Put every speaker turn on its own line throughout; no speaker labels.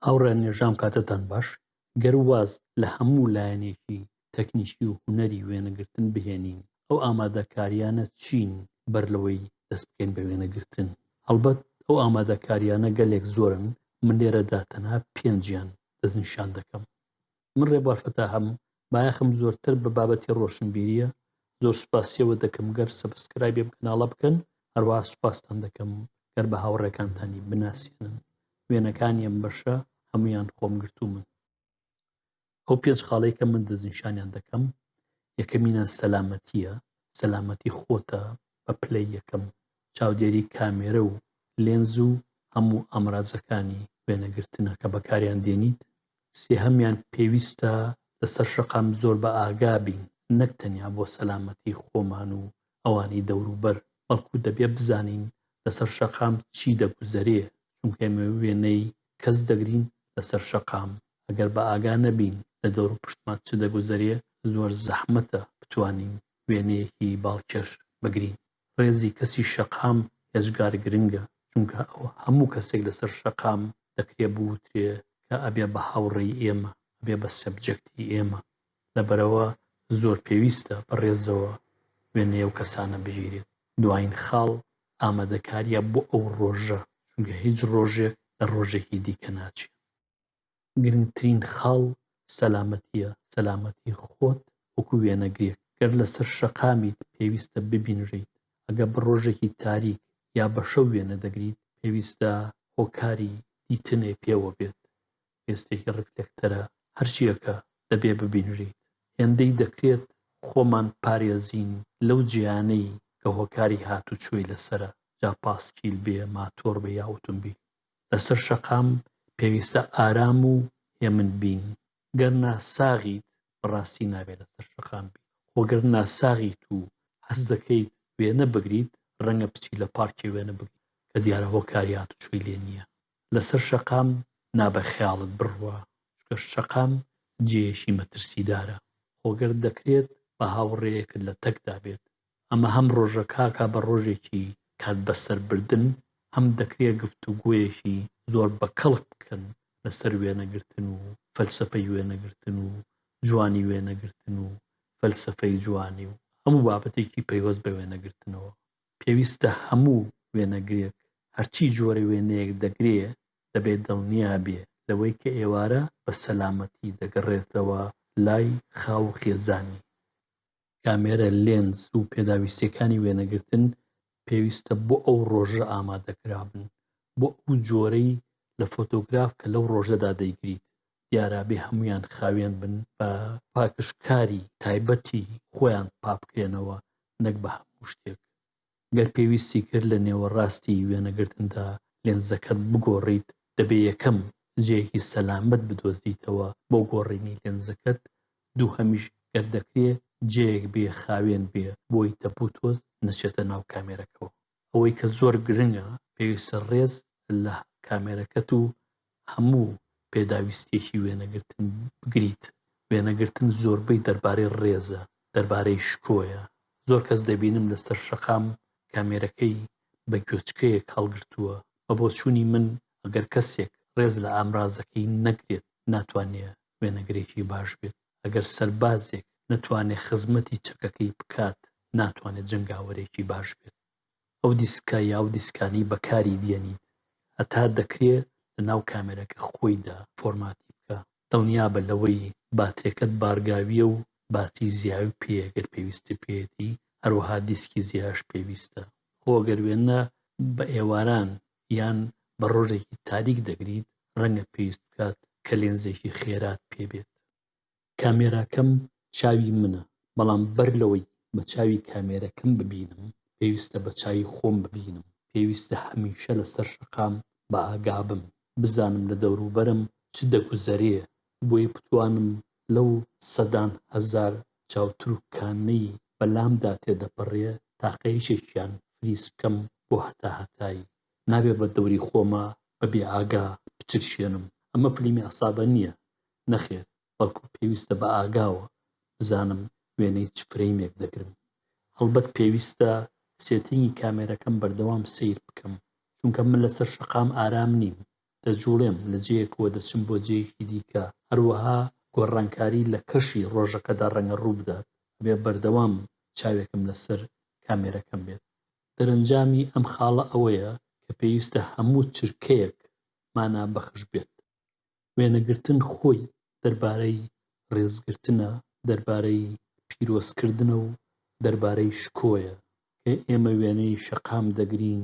هاوڕێیان نێژام کاتتان باش گەر واز لە هەموو لایەنێکی تەکنیکی و هونەری وێنەگرتن بهێنین ئەو ئامادەکاریانە چین بەر لەوەی دەست بکەین بە وێنەگرتن؟ هەڵبەت ئەو ئامادەکاریانە گەلێک زۆرن من لێرەدا تەنها پێنجیان دەستنیشان دەکەم من ڕێبوار فەتاحم بایەخم زۆرتر بە بابەتی ڕۆشنبیریە زۆر سوپاسیەوە دەکەم گەر سەبسکرایبی ئەم کەناڵە بکەن هەروەها سوپاستان دەکەم گەر بە هاوڕێکانتانی بناسێنن وێنەکانی ئەم بەشە هەمویان خۆم گرتومن ئەو پێنج خاڵەی کە من دەستنیشانیان دەکەم یەکەمینە سەلامەتیە سەلامەتی خۆتە بە پلەی یەکەم چاودێری کامێرە و لێنز و هەموو ئامرازەکانی وێنەگرتنە کە بەکاریان دێنیت، سێهەمیان پێویستە لەسەر شەقام زۆر بە ئاگا بین نەک تەنیا بۆ سەلامەتی خۆمان و ئەوانی دەوروبەر بەڵکو دەبێ بزانین لەسەر شەقام چی دەگوزەرێ چونکە ئێمە وێنەی کەس دەگرین لەسەر شەقام ئەگەر بە ئاگا نەبین لە دەوروپشتمان چ دەگوزەرێ زۆر زەحمەتە بتوانین وێنەیەکی باڵکێش بگرین. ڕێزی کەسی شەقام ئێجگار گرنگە، چونکە ئەو هەموو کەسێک لەسەر شەقام دەکرێ بوترێ کە ئەبێ بە هاوڕێی ئێمە، ئەبێ بە سەبجێکتی ئێمە. لەبەرئەوە زۆر پێویستە بە ڕێزەوە وێنەی ئەو کەسانە بگیرێت. دوایین خاڵ ئامادەکارییە بۆ ئەو ڕۆژە، چونکە هیچ ڕۆژێک لە ڕۆژێکی دیکە ناچێت. گرنگترین خاڵ سەلامەتیە، سەلامەتی خۆت وەکو وێنەگرێک گەر لەسەر شەقامیت پێویستە ببینرێیت، ئەگەر بە ڕۆژێکی تاریک یا بە شەو وێنە دەگریت پێویستە هۆکاری دیتنێ پێوە بێت، پێستێکی ڕیفلێکتەرە هەرچیەکە دەبێ ببینرێیت، هێندەی دەکرێت خۆمان پارێزین لەو جێیانەی کە هۆکاری هاتوچۆی لەسەرە جا پاسکیل بێ، ماتۆر بێ یا ئۆتۆمبیل. لەسەر شەقام پێویستە ئارام و هێمن بین گەر ناساغیت بەڕاستی نابێت لەسەر شەقام بیت خۆ گەر ناساغیت و حەز دەکەیت وێنە بگریت ڕەنگە بچی لە پارکێ وێنە بگریت کە دیارە هۆکاری هاتوچۆی لێ نییە لەسەر شەقام نابێ خەیاڵت بڕوا چونکە شەقام جێیەکی مەترسیدارە خۆ گەر دەکرێت بە هاوڕێیەکت لە تەکدا بێت ئەمە هەم ڕۆژە کاکا بە ڕۆژێکی کات بەسەر بردن هەم دەکرێ گفتوگۆیەکی زۆر بە کەڵک بکەن لە سەر وێنە گرتن و فەلسەفەی وێنە گرتن و جوانی وێنە گرتن و فەلسەفەی جوانی و هەموو بابەتێکی پەیوەست بە وێنە گرتنەوە پێویستە هەموو وێنەگرێک هەرچی جۆرە وێنەیەک دەگرێ دەبێ دڵنیا بێ لەوەی کە ئێوارە بە سەلامەتی دەگەڕێتەوە لای خاو و خێزانی. کامێرە، لێنز و پێداویستییەکانی وێنەگرتن پێویستە بۆ ئەو ڕۆژە ئامادەکرابن، بۆ ئەو جۆرەی لە فۆتۆگراف کە لەو ڕۆژەدا دەیگریت، دیارابێ هەموویان خاوێن بن بە پاکژکاری تایبەتی خۆیان پاکبکرێنەوە نەک بە هەموو شتێک. گەر پێویستی کرد لە نێوەڕاستی وێنەگرتندا لێنزەکەت بگۆڕیت، دەبێت یەکەم جێیەکی سەلامەت بدۆزیتەوە بۆ گۆڕینی لێنزەکەت، دووهەمیش گەر دەکرێت جێیەک بێ خاوێن بێ بۆی تەپ و تۆز نەچێتە ناو کامێرەکەوە. ئەوەی کە زۆر گرنگە پێویستە ڕێز لە کامێرەکەت و هەموو پێداویستییەکی وێنەگرتن بگریت، وێنەگرتن زۆربەی دەربارەی ڕێزە، دەربارەی شکۆیە، زۆر کەس دەبینم لەسەر شەقام کامێرەکەی بە گوێچکەیەک هەڵگرتووە، بە بۆچوونی من ئەگەر کەسێک ڕێز لە ئامرازەکەی نەگرێت ناتوانێ وێنەگرێکی باش بێت، ئەگەر سەربازێک نەتوانێ خزمەتی چەکەکەی بکات ناتوانێ جەنگاوەرێکی باش بێت. ئەو دیسکە یا ئەو دیسکانەی بەکاری دیەنیت هەتا دەکرێ لەناو کامێرەکە خۆیدا فۆرماتی بکە دڵنیابە لەوەی باترێکەت بارگاویە و باتری زیاوی پێیە گەر پێویستی پێیەتی هەروەها دیسکی زیاش پێویستە خۆ گەر وێنە بە ئێواران یان بە ڕۆژێکی تاریک دەگریت ڕەنگە پێویست بکات کە لێنزێکی خێرات پێبێت. کامێراکەم چاوی منە، بەڵام بەر لەوەی بە چاوی کامێرەکەم ببینم، پێویستە بە چاوی خۆم ببینم، پێویستە هەمیشە لەسەر شەقام بە ئاگابم، بزانم لە دەوروبەرم چ دەگوزەرێ، بۆیە بتوانم لەو سەدان هەزار چاوتروکانەی بە لامدا تێدەپەڕێ تاقە یەکێکیان فریز بکەم بۆ هەتا هەتایی، نابێ بە دەوری خۆما بە بێ ئاگا بچرچێنم، ئەمە فلیمی عەسابە نییە، نەخێر، بەڵکو پێویستە بە ئاگاوە بزانم وێنەی چ فرەیمێک دەگرم. هەڵبەت پێویستە سێتینگی کامێرەکەم بەردەوام سەیر بکەم، چونکە من لەسەر شەقام ئارام نیم، دەجووڵێم، لە جێیەکەوە دەچم بۆ جێیەکی دیکە، هەروەها گۆڕانکاری لە کەشی ڕۆژەکەدا ڕەنگە ڕووبدات، ئەبێ بەردەوام چاوێکم لەسەر کامێرەکەم بێت. دەرەنجامی ئەم خاڵە ئەوەیە کە پێویستە هەموو چرکەیەک مانا بەخش بێت. وێنەگرتن خۆی دەربارەی ڕێزگرتنە، دەربارەی پیرۆزکردنە و دەربارەی شکۆیە، کە ئێمە وێنەی شەقام دەگرین،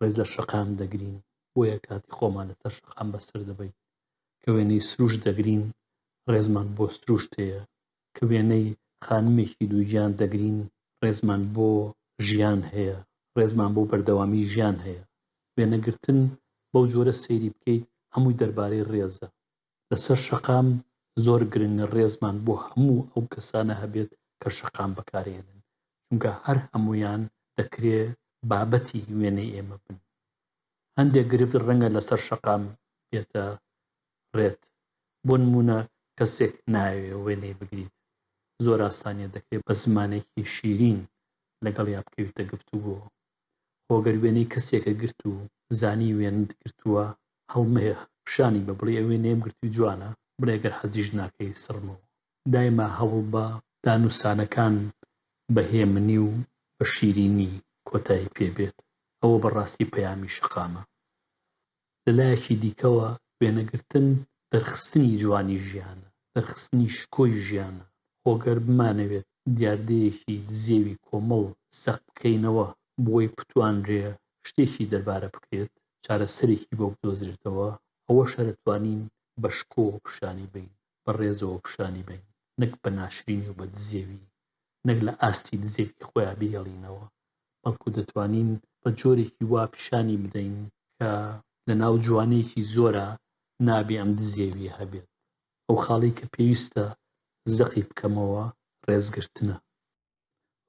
ڕێز لە شەقام دەگرین، بۆیە کاتی خۆمان لەسەر شەقام بەسەر دەبەین، کە وێنەی سروشت دەگرین، ڕێزمان بۆ سروشت هەیە، کە وێنەی خانمێکی دووگیان دەگرین، ڕێزمان بۆ ژیان هەیە، ڕێزمان بۆ بەردەوامیی ژیان هەیە. وێنەگرتن بەو جۆرە سەیری بکەیت، هەمووی دەربارەی ڕێزە. لەسەر شەقام زۆر گرنگە ڕێزمان بۆ هەموو ئەو کەسانە هەبێت کە شەقام بەکارهێنن، چونکە هەر هەموویان دەکرێ بابەتی وێنەی ئێمە بن. هەندێک گرفت ڕەنگە لەسەر شەقام بێتە ڕێت بۆ نمونە کەسێک نایەوێ وێنەی بگریت زۆر ئاسانیە دەکرێ بە زمانێکی شیرین لەگەڵیا بکەویتە گفتوگۆ خۆ گەر وێنەی کەسێکە گرت و زانی وێنەت گرتوە هەڵمەیە پیشانی بە بڵی ئەوێ نەیەم گرتوی جوانە بڵێ گەر حەزیش ناکەی سڕمەوە دایمە هەوڵ بە دانوسانەکان بە هێمنی و بە شیرینی کۆتایی پێ بێت ئەوە بە ڕاستی پەیامی شەقامە لە لایەکی دیکەوە وێنەگرتن دەرخستنی جوانی ژیانە، دەرخستنی شکۆی ژیانە، خۆ گەر بمانەوێت دیاردەیەکی دزێوی کۆمەڵ زەق بکەینەوە بۆی بتوانرێ شتێکی دەربارە بکرێت، چارەسەرێکی بۆ بدۆزرێتەوە، ئەوە شەرە توانین بە شکۆوە پشانی بەین. بە ڕێزەوە پشانی بەین نەک بە ناشرینی و بە دزێوی نەک لە ئاستی دزێوی خۆیان بیهێڵینەوە بەڵکو دەتوانین بە جۆرێکی وا پیشانی بدەین کە لە ناو جوانیەکی زۆرا نابێ ئەم دزێویە هەبێت ئەو خاڵی کە پێویستە زەقی بکەمەوە ڕێزگرتنە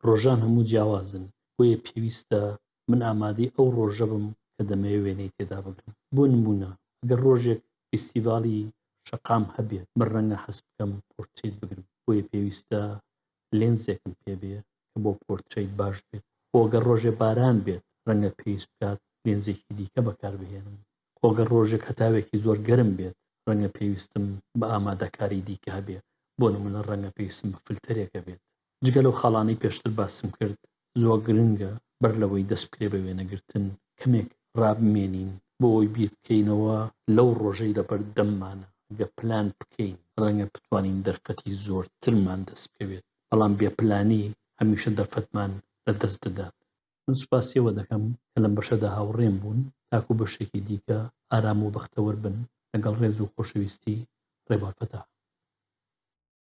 ڕۆژان هەموو جیاوازن، بۆیە پێویستە من ئامادەی ئەو ڕۆژە بم کە دەمەوێت وێنەی تێدا بگرم. بۆ نموونە ئەگەر ڕۆژێک فیستیڤاڵی شەقام هەبێت، من ڕەنگە هەست بکەم پۆرترەیت بگرم، بۆیە پێویستە لێنزێکم پێ بێت کە بۆ پۆرترەیت باش بێت. خۆ ئەگەر ڕۆژێ باران بێت، ڕەنگە پێویست بکات لێنزێکی دیکە بەکار بهێنم. خۆ گەر ڕۆژێک هەتاوێکی زۆر گەرم بێت ڕەنگە پێویستم بە ئامادەکاری دیکە هەبێ بۆ نمونە ڕەنگە پێویستم بە فلتەرێک هەبێت جگە لەو خاڵانەی پێشتر باسم کرد زۆر گرنگە بەر لەوەی دەست بکرێ بە وێنەگرتن کەمێک ڕابمێنین بۆ ئەوەی بیر بکەینەوە لەو ڕۆژەی لە بەر دەممانە گەر پلان بکەین ڕەنگە بتوانین دەرفەتی زۆرترمان دەست بکەوێت بەڵام بێ پلانی هەمیشە دەرفەتمان لە دەست دەدات من سوپاسی ئەوە دەکەم کە لەم بەشەدا هاوڕێم بوون، تاکو بەشێکی دیکە ئارام و بەختەوەر بن، لەگەڵ ڕێز و خۆشەویستی، ڕێبوار فەتاح.